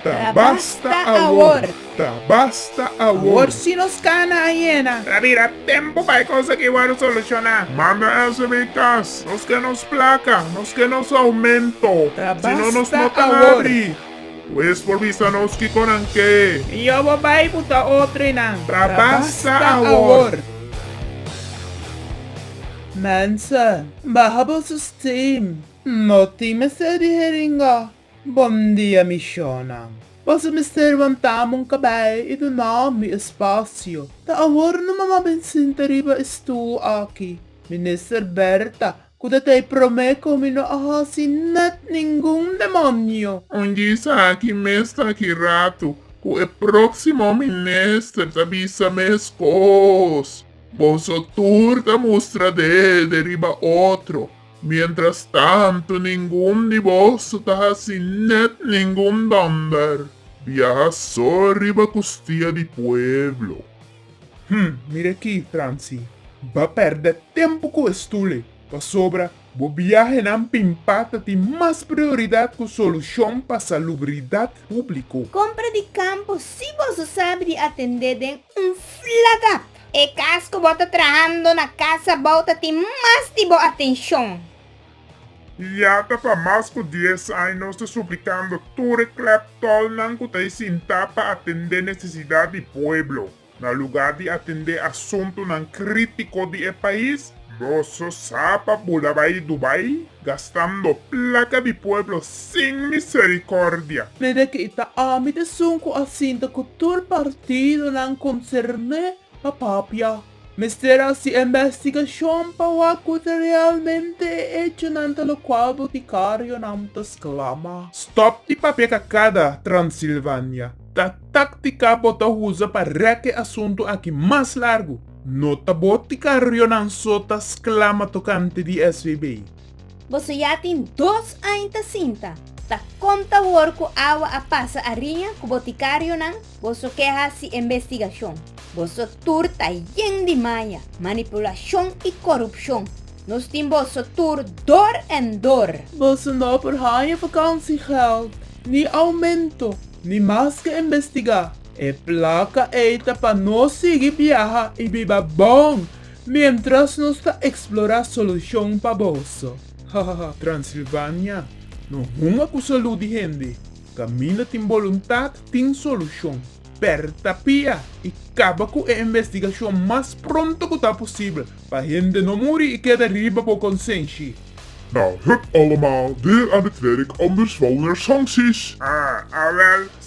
Ta basta awor, ta basta awor. Awor si nos cana a yena. Ta bira tempo pa e cos aki wor soluciona. Manda eso bay cas. Nos ke nos placa, nos ke nos aumento. Ta basta awor. Si no nos no ta abri. Hues por bisa nos kico nan ke. Mi yo bo bay buta otro y nan. Ta basta awor. Mensen, baha boso stem. No tin mester di heringa. Bomdia mi shownan. Boso mester wantá mon kabei i doná mi espasio. Ta awor no mama bin sinta riba e stuu aki. Minister Berta, ku ta tei promé kon mi no a hasi nèt ningun demonio. Un djis aki mes ta aki ratu ku e próksimo minister ta bisa meskos. Boso tur ta mustra dede riba otro. Mientras tanto ningun di boso ta haci net ningun donder biaha so riba custia di pueblo. Hm, mira aki, Franci, ba perde tempo cu e stule, pasobra bo biahenan pimpa ta tin mas prioridad cu solucion pa salubridad publico. Compra di campo, si boso sabi di atende den un flagat. E kas ku bo ta trahando na kas abou ta tin mas di bo atenshon. Ya ta pa mas ku dies aña nos ta suplikando tur e klèp tòlnan ku ta esintá pa atendé nesesidat di pueblo, na lugá di atendé asuntunan krítiko di e pais. Boso sa pa bo da bai Dubai gastando placa di pueblo sin misericordia. Pide cu i ta ami t'esun cu a sinta cu tur partidonan concerné pa papia. Mester haci investigacion pa wak cu ta realmente e hechonan ta locual boticarionan ta sclama. Stop di papia cacada, Transilvania. Ta tactica bo ta uza pa rek e asunto aki mas largo. No ta bo ti carrionan so ta sclama tocante di SVB. Boso ya tin dos añ ta sinta, ta conta awor cu awa a pasa ariña cu bo ti carrionan, boso ke haci investigacion. Boso tur ta yen di maña, manipulacion y corupcion. Nos tin boso tur door en door. Boso no por haña vakansiegeld, ni aumento, ni mas ke investiga. E plaka ei ta pa nos sigui biaha i biba bon miéntras nos ta eksplorá solushon pa boso. Hahaha Transilvania no hunga ku salú di hende. Kaminda tin boluntat tin solushon. Pèr ta pia i kaba ku e investigashon mas pronto ku ta posibel pa hende no muri i keda riba bo konsenshi. Nou, hup allemaal, weer aan het werk om de zware sancties! Ah, awèl,